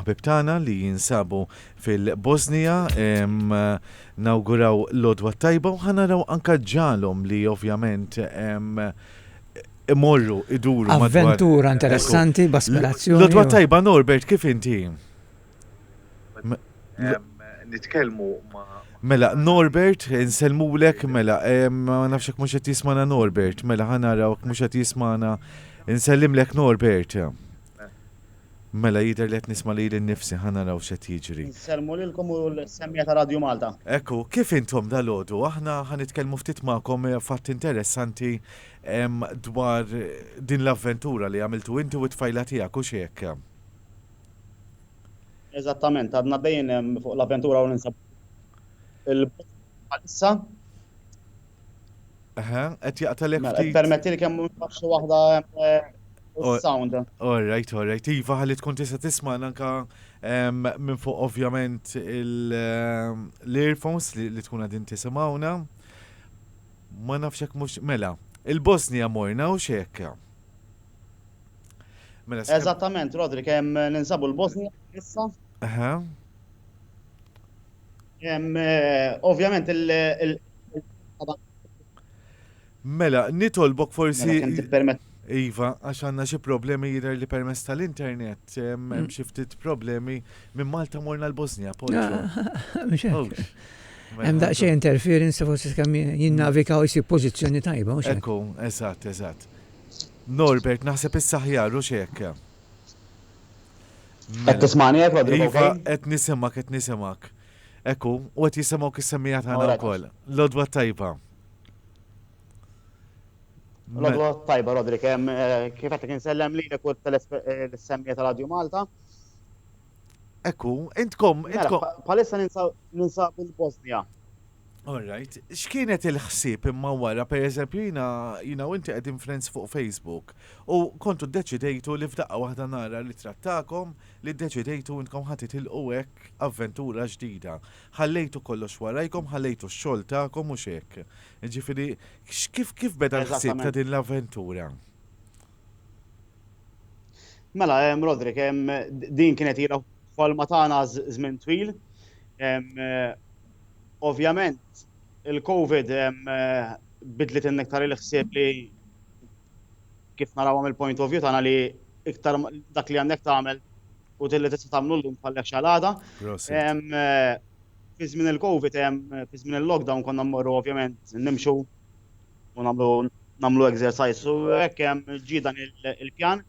Ħbieb tagħna li jinsabu fil-Bosnija nawguraw l-għodwa t-tajba u ħa naraw anke ġiegħlhom li ovvjament imorru iduru madwar. Avventura interessanti b'aspirazzjoni. L-għodwa t-tajba Norbert kif inti? Nitkellmu ma' Mela, Norbert, insellmulek, mela, ma nafx hekk mhux qed jismana Norbert, mela ħa naraw mhux qed jismana. Insellimlek Norbert. Mela jidher li qed nisma' lili nnifsi, ħa naraw x'qed jiġri. Insellmu lilkom u l-semmiegħa ta' Radju Malta. Hekk hu, kif intom dalgħodu? Aħna ħa nitkellmu ftit magħkom fatt interessanti dwar din l-avventura li għamiltu inti u t-tfajla tiegħek, hux hekk? Eżattament, għadna għaddejjin fuq l-avventura u ninsabu il-bot bħalissa. Eħe, qed jaqtalek Mela, ftit. permetti li kemm mhux naf xi waħda hemm eh, Oh. sound. All right, all right. Iva, ħalli tkun tista' tisma' anka em, minn fuq ovvjament il- em, l-earphones li, li tkun għadin tisimawna. Ma nafx hekk mhux mela. Il-Bosnija morna u xek. Mela sħab- Eżattament, Rodri, kemm ninsabu l-Bosnija issa. Aha. Ovvjament il- Mela, nitolbok forsi. Mela, kemm tippermetti. Iva, għax għandna xi problemi jidher li permess tal-internet, hemm mm. xi ftit problemi minn Malta morna l-Bosnja, Poggio. Hemm daqsxejn interference forsi kemm jinnavika u jsib pożizzjoni tajba. Ekku, eżatt, eżatt. Norbert, naħseb is-saħjar u x'hekk. Qed tismagħni hekk, Rodrigo? Iva, qed nisimgħek, qed nisimgħek. Ekku, u qed jisimgħu kis-semmija tagħna wkoll. L-odwa tajba. L-odwa tajba, Rodrik, eh, kif qed insellem li nekur eh, l-semmija tal-Radju Malta. Ekku, intkom, mela, intkom. Palissa ninsabu l-Bosnia. All right. X'kienet il-ħsieb imma wara, per eżempju, jina, jina u inti qegħdin friends fuq Facebook u kontu deċidejtu li f'daqqa waħda nara li trattakom li deċidejtu intkom ħadd itilqu hekk avventura ġdida. Ħallejtu kollox warajkom, ħallejtu x-xogħol tagħkom u x'hekk. Ġifieri, kif kif beda l-ħsieb ta' din l-avventura? Mela, hemm Rodrik, hemm din kienet ilha ħolma tagħna żmien twil. Ovvjament il-Covid biddlet inniktar il-ħsieb li kif narawha mill-point of view tagħna li iktar dak li għandek tagħmel u li tista' tagħmlu llum tfallekx għal għada. Fi żmien il-Covid, fi żmien il-lockdown konna mmorru ovvjament nimxu u nagħmlu nagħmlu exercise u hekk ġie dan il-pjan.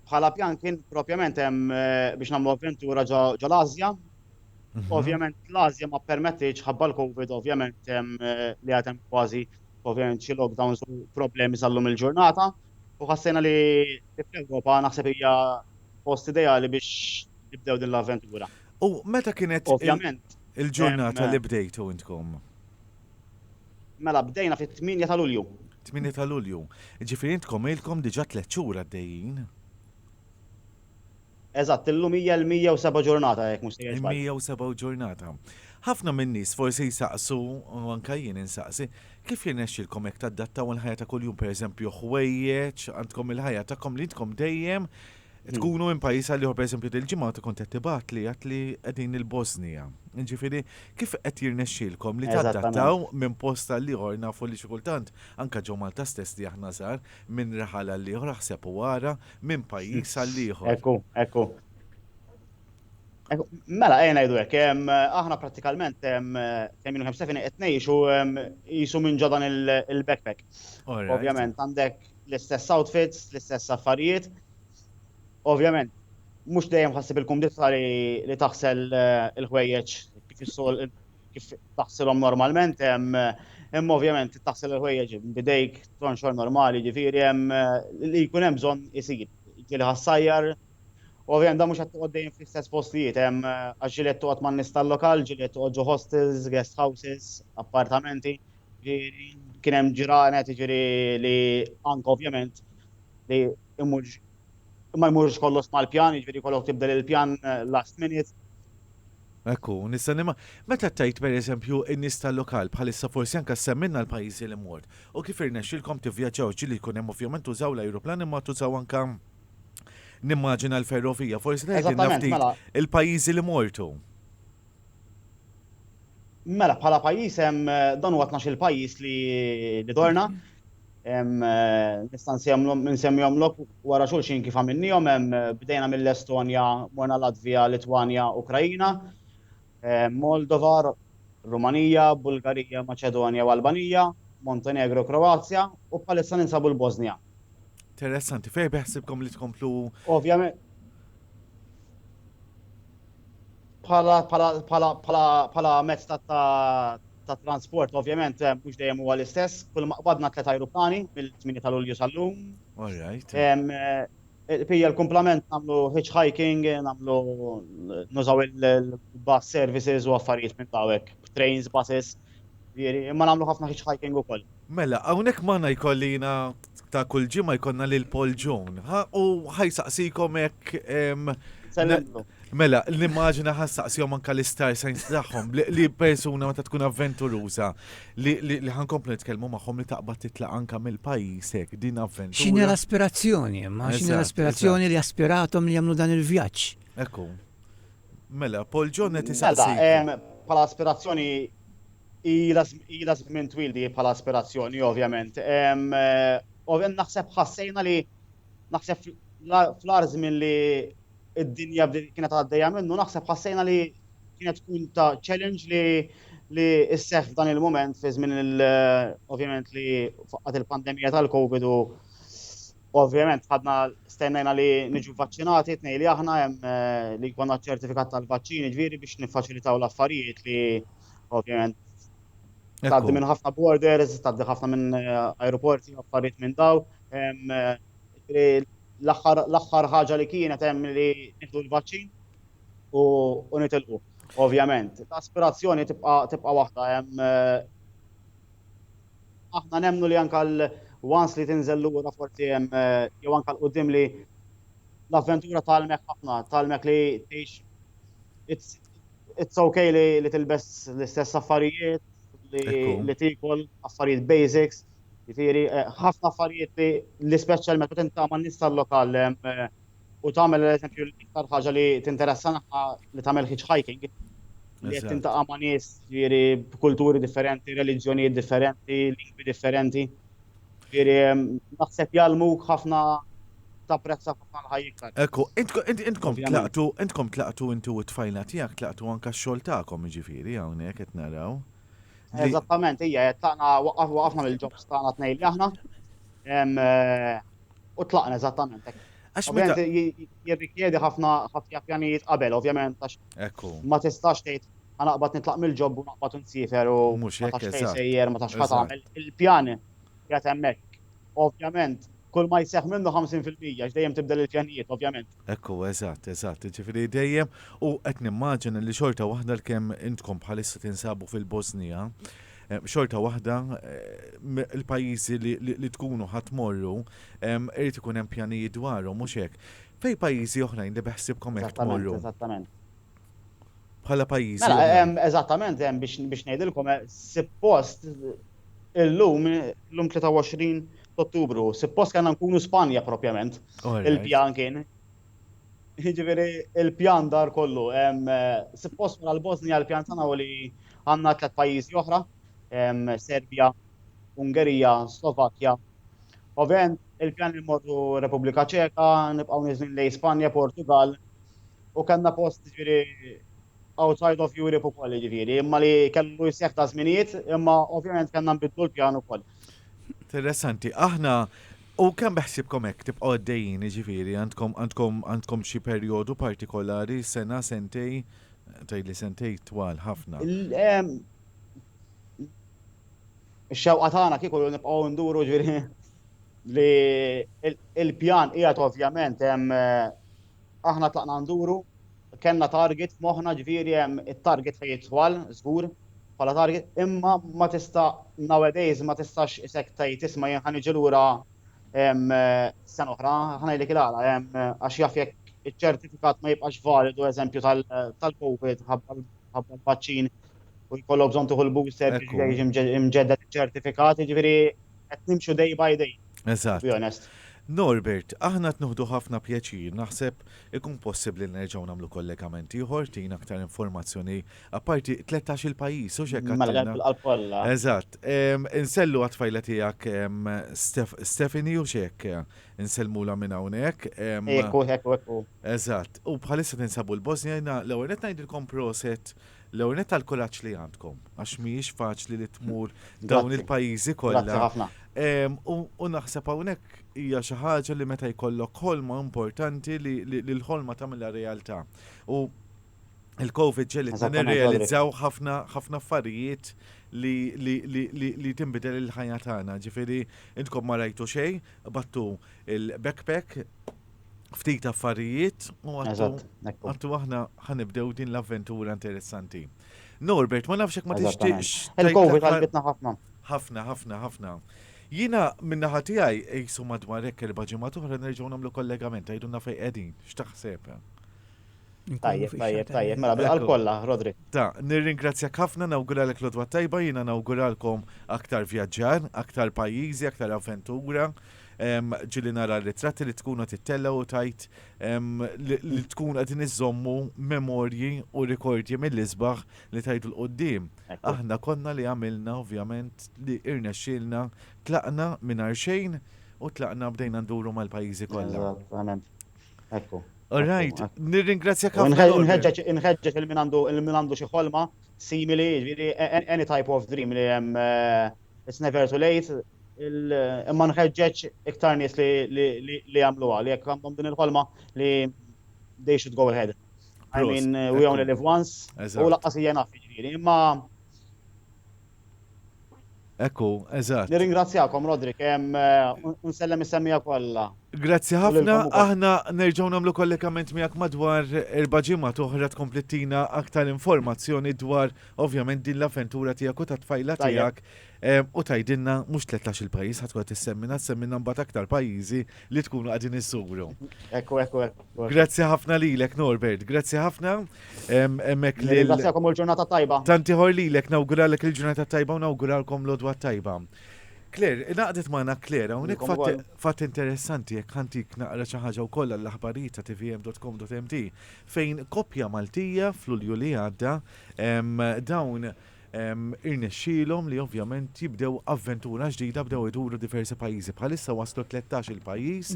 Bħala pjan kien propjament biex nagħmlu avventura ġo l-Ażja, Mhm. Ovvjament l-Azja ma permettiċ ħabba l-Covid, ovvjament li għatem kważi ovvjament xi lockdowns u problemi sal-lum il-ġurnata. U ħassejna li fl-Ewropa naħseb hija post ideali biex nibdew din l-avventura. U meta kienet ovvjament il-ġurnata li bdejtu intkom? Mela bdejna fit-8 ta' Lulju. 8 ta' Lulju. Ġifieri intkom ilkom diġà tliet xhur għaddejjin. Eżatt, illum hija l-107 ġurnata jekk mhux sejjer żball. Il-107 ġurnata. Ħafna min-nies forsi jsaqsu, u anke jien insaqsi, kif jirnexxilkom hekk tadattaw il-ħajja ta' kuljum, pereżempju ħwejjeġ, għandkom il-ħajja tagħkom li intkom dejjem tkunu minn pajjiż għal ieħor, pereżempju dil-ġimgħa kont qed tibgħatli għedt li qegħdin il-Bosnija. Jiġifieri kif qed jirnexxilkom li tadattaw minn post għal ieħor, nafu li xi kultant anke ġo Malta stess li aħna żgħar, Minn raħal għal ieħor aħseb u ara, minn pajjiż għal ieħor. Hekk hu, hekk hu. Mela, ejja ngħidu hekk, aħna prattikalment kemm jien kemm Stefani qed ngħixu qisu minn ġo dan il-backpack. Ovvjament għandek l-istess outfits, l-istess affarijiet. Ovvjament, mhux dejjem ħassib il-kumdità li taħsel il-ħwejjeġ kif is-soltu. kif taħsilhom normalment, hemm ovvjament taħsil il-ħwejjeġ bidejk tonxor normali, ġifieri hemm li jkun hemm bżonn isir. Ġieli ħassajjar, ovvjament dan mhux qed toqgħod dejjem fl-istess postijiet, hemm għax ġieli qed toqgħod man-nies tal-lokal, ġieli qed toqgħod ġo hostels, guest houses, appartamenti, ġieli kien hemm ġranet jiġifieri li anke ovvjament li mmur ma jmurx kollox mal-pjan, jiġifieri jkollok tibdel il-pjan last minute. Hekk hu, nista' nimma. Meta tgħid per eżempju n-nies tal-lokal bħalissa forsi anke ssemmilna l-pajjiżi li mort u kif irnexxilkom tivvjaġġaw ġieli jkun hemm ovvjament tużaw l-ajruplan imma tużaw anke nimmaġina l-ferrovija, forsi tgħidilna ftit il-pajjiżi li mortu. Mela, bħala pajjiż hemm dan huwa tnax-il pajjiż li dorna, Nista' nsemmihomlok wara xulxin kif għamilniehom, bdejna mill-Estonja, morna Latvija, Litwanja, Ukraina, Moldova, Rumanija, Bulgarija, Maċedonja u Albanija, Montenegro u Kroazja, u bħalissa ninsabu l-Bosnja. Interessanti. Fejn beħsibkom li tkomplu? Ovvjament. bħala mezz ta' transport, ovvjament, eh, mhux dejjem huwa l-istess, kull ma qbadna tliet ajruplani mill-8 tal-Ulju sal-lum. All right. Eh, Pija l-kumplament namlu hitchhiking, namlu nużaw il-bus services u affarijiet minn dawek, trains, buses, imma namlu ħafna hitchhiking u koll. Mela, hawnhekk magħna jkolli jiena ta' kull ġimgħa jkollna lil Paul Ġun. U ħajsaqsikom hekk Mela, l-immaġina ħassaqsihom anka l-istar science tagħhom li persuna meta tkun avventuruża li ħankomplu nitkellmu magħhom li taqbad titlaq anka mill-pajjiż hekk din avventura. X'inhi l-aspirazzjoni, ma x'inhi l-aspirazzjoni li aspiratom li jagħmlu dan il-vjaġġ. Ekku. Mela, Paul John qed isaqsi. Pala aspirazzjoni Ilha żmien twil di bħala aspirazzjoni, ovvjament. Ovvjament naħseb ħassejna li naħseb fl-ar żmien li id-dinja kienet għaddejja minnu, naħseb ħassejna li kienet tkun ta' challenge li li isseħ f'dan il-moment fi żmien ovvjament li faqqat il-pandemija tal-Covid u ovvjament ħadna stennajna li niġu vaċċinati tnej li aħna hemm eh, li jkollna ċertifikat tal-vaċċini ġifieri biex niffaċilitaw l-affarijiet li ovvjament. Taddi minn ħafna borders, taddi ħafna minn eh, aeroporti, affarijiet minn daw. Eh, l-axħar ħaġa li kienet hemm li nieħdu l-vaċċin u nitilqu. Ovvjament, l-aspirazzjoni tibqa' waħda hemm eh, aħna nemnu li anka l-wans li tinżel lura forsi hemm jew anka l-qudiem li l-avventura tal-mek ħafna, tal-mek li tgħix It's okay li tilbes l-istess affarijiet, li tiekol affarijiet basics, jiġifieri ħafna affarijiet li l-ispeċjal meta tintaqa' man-nies tal-lokal u tagħmel eżempju l-iktar ħaġa li tinteressana li tagħmel hitchhiking, li qed tintaqa' ma' nies jiġifieri b'kulturi differenti, reliġjonijiet differenti, lingwi differenti. Ġifieri naħseb jgħallmuk ħafna tapprezza ħafna l-ħajja. Ekku, intkom tlaqtu, intkom tlaqtu inti u t-tfajla tiegħek tlaqtu anke x-xogħol tagħkom jiġifieri hawnhekk qed naraw. Eżattament, hija qed taqna waqafna mill-ġobs tagħna tnejn li aħna u tlaqna eżattament hekk. Għax meta jirrikjedi ħafna ħafna pjanijiet qabel, ovvjament għax ma tistax tgħid Ħa naqbad nitlaq mill-job u naqbad u nsiefer u ma tafx fejn sejjer, ma tafx x'ħa tagħmel. Il-pjan qiegħed hemmhekk. Ovvjament, kull ma jseħħ minnu ħamsin fil-mija għax dejjem tibdel il-pjanijiet, ovvjament. Hekk hu, eżatt, eżatt. Jiġifieri dejjem, u qed nimmaġina li xorta waħda għalkemm intkom bħalissa tinsabu fil-Bożnija, xorta waħda l-pajjiżi li tkunu ħa tmorru irid ikun hemm pjanijiet dwarhom, mhux hekk? Fejn pajjiżi oħrajn li beħsiebkom hekk tmorru? Eżattament, eżattament. bħala pajjiżi. Mela, hemm eżattament hemm biex biex ngħidilkom eh, suppost illum illum 23 Ottubru, suppost kellna nkunu Spanja propjament. Il-pjan kien. Jiġifieri il-pjan dar kollu. Eh, suppost mela l-Bosnia l-pjan tagħna li għandna tliet pajjiżi oħra, Serbja, Ungerija, Slovakkja. Ovvjament il-pjan li morru Repubblika Ċeka, nibqgħu niżlin lejn Spanja, Portugal, U kellna post jiġifieri outside of Europe ukoll jiġifieri, imma li kellu jseħħ ta' żminijiet, imma ovvjament kellna nbiddlu l-pjan ukoll. Interessanti, aħna U kemm beħsibkom hekk tibqgħu għaddejjin, jiġifieri għandkom għandkom għandkom xi perjodu partikolari sena sentej tgħidli sentej twal ħafna. Ix-xewqa tagħna kieku nibqgħu nduru ġifieri li l-pjan qiegħed ovvjament hemm aħna tlaqna nduru, kellna target f'moħħna ġifieri hemm it-target fejn jidħol żgur bħala target imma ma tista' nowadays ma tistax isek tgħid isma' jien ħa niġi lura sena oħra, ħa ngħidlek il-għala hemm għax jaf jekk iċ-ċertifikat ma jibqax validu eżempju tal-COVID ħabba l-vaċċin u jkollok bżonn tieħu l-booster biex jiġi mġedded iċ-ċertifikat jiġifieri qed nimxu day by day. Eżatt. To be honest. Norbert, aħna qed nuħdu ħafna pjaċir, naħseb ikun possibbli li nerġgħu nagħmlu kollegament ieħor, ttina aktar informazzjoni, apparti tletax il pajjiż, hux hekk Mela għedna? bil-qalb kollha. Eżatt. Ehm, Insellu għat-tfajla tiegħek ehm, Stef- Stephanie hux hekk? Insellmulha minn hawnhekk. ehm, Hekk hu, hekk hu, hekk hu. Eżatt. U bħalissa tinsabu l-Bosnia, jiena l-ewwel qed ngħidilkom proset L-ewwel nett għall-kuraġġ li għandkom għax mhijiex faċli li tmur dawn il-pajjiżi kollha. Grazzi ħafna. U naħseb hawnhekk hija xi ħaġa li meta jkollok ħolma importanti li l-ħolma tagħmilha realtà. U l-Covid ġegħlitna nirrealizzaw ħafna ħafna affarijiet li tinbidel il-ħajja tagħna. Ġifieri intkom ma rajtu xejn, qbadtu l-backpack, ftit affarijiet u għattu aħna ħanibdew din l-avventura interessanti. Norbert, ma nafxek ma tixtieqx. Il-Covid għalbitna ħafna. ħafna, ħafna, ħafna. Jina minna ħatijaj jisu madwar ekk erba ġimma tuħra nerġaw namlu kollegament, għajdu nafej edin, xtaħseb. Tajjeb, tajjeb, tajjeb, mela bil kolla, Rodri. Ta, nirringrazzja ħafna nawgura l lodwa tajba, jina nawguralkom aktar vjaġġar, aktar pajizi, aktar avventura, Ġieli nara r-ritratti li tkun qed ittella' u tgħid li tkun qegħdin iżommu memorji u rikordji mill-isbaħ li tgħidu 'l quddiem. Aħna konna li għamilna ovvjament li irnexxielna tlaqna mingħajr xejn u tlaqna bdejna nduru mal-pajjiżi kollha. Alright, nirringrazzjak ħafna. Inħeġġeġ lil min għandu xi ħolma simili, any type of dream li hemm, it's never too late. Imma nħeġġeġ iktar nies li jagħmluha, li jekk għandhom din il-ħolma li they should go ahead. I mean, we only live once, u laqqas hija enough, jiġifieri. Imma. Hekk hu, eżatt. Nirringrazzjakom, Roderick, u nsellem is-semmiegħa kollha. Grazzi ħafna, aħna nerġgħu nagħmlu kollegament miegħek madwar erba' ġimgħat oħra tkompli ttina aktar informazzjoni dwar ovvjament din l-avventura tiegħek u tat-tfajla tiegħek. U tgħidilna mhux tlettax-il pajjiż ħadd wieħed issemmina, ssemminna mbagħad aktar pajjiżi li tkunu qegħdin iżżuru. Ekku, ekku, ekku. Grazzi ħafna lilek Norbert, grazzi ħafna. Hemmhekk li. Grazzikom u l-ġurnata tajba. Tanti ħor lilek nawguralek il-ġurnata tajba u nawguralkom l-odwa tajba. Kler, naqdet maħna Kler, unik fatt interessanti jek ħantik naqra ċaħġa u kolla l-aħbarijiet ta' tvm.com.mt fejn kopja Maltija fl-ulju li għadda dawn Irnexxielhom li ovvjament jibdew avventura ġdida bdew iduru diversi pajjiżi. Bħalissa waslu tlettax-il pajjiż,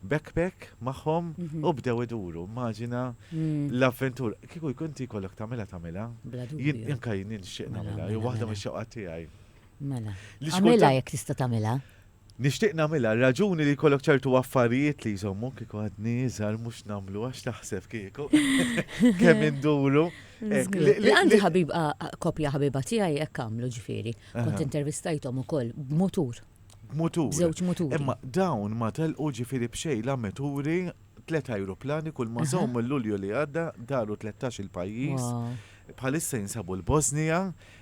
backpack magħhom u bdew iduru. Immaġina l-avventura. Kieku jkun inti jkollok tagħmilha tagħmilha. Bla dubju. Anke jien nixtieq nagħmilha, hi waħda mix-xewqat tiegħi. Mela. Għamilha jekk tista' tagħmilha. Nixtieq nagħmilha, r-raġuni li jkollok ċertu affarijiet li jżommuk, kieku għadni iżgħar mhux nagħmlu għax taħseb kieku kemm induru. Għandi ħabib koppja ħabiba tiegħi hekk għamlu ġifieri. Kont intervistajthom ukoll b'mutur. B'mutur. B'żewġ muturi. Imma dawn ma telqu ġifieri b'xejn la mituri tliet ajruplani kull ma sew mill-Lulju li għadda daru tlettax-il pajjiż. Bħalissa jinsabu l-Bosnija,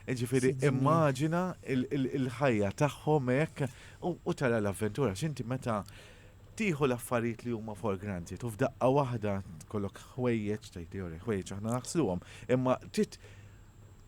ġifieri immaġina l-ħajja tagħhom hekk u tara l-avventura x'inti meta tieħu l-affarijiet li huma for granted u f'daqqa waħda tkollok ħwejjeġ tgħid ħwejjeġ aħna naħsluhom imma trid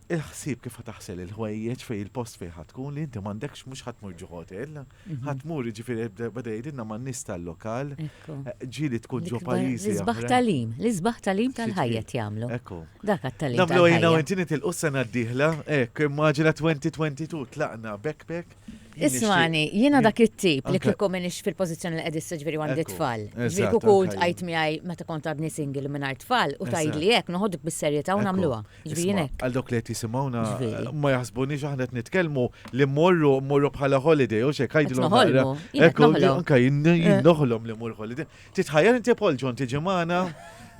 il-ħsieb kif ħa taħsel il-ħwejjeġ fej il-post fej ħa tkun li inti m'għandekx mhux ħadd mur ġi hotel, mhm. ħadd mur ġifieri bada jgħidilna ma' nies tal-lokal, eh, ġieli tkun ġo pajjiżi. L-isbaħ talim, l-isbaħ talim tal-ħajja jagħmlu. Ekku. Dak għat-talim. Namlu jina u inti nitilqu s-sena d-dieħla, hekk immaġina 2022 tlaqna backpack Ismani, jiena dak it-tip li kieku minix fil-pożizzjoni li qed issa ġifieri għandi tfal. Ġifieri kieku int qajt miegħi meta kont għadni single mingħajr tfal u tgħidli hekk noħodok bis-serjetà u nagħmluha. Ġifieri hekk. Għal dawk li qed jisimgħuna ma jaħsbunix aħna qed nitkellmu li mmorru mmorru bħala holiday u xejn għidilhom naqra. Ekku, anke jien noħlom li mmur holiday. Titħajjar inti Paul John tiġi magħna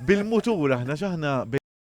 bil-mutur aħna x'aħna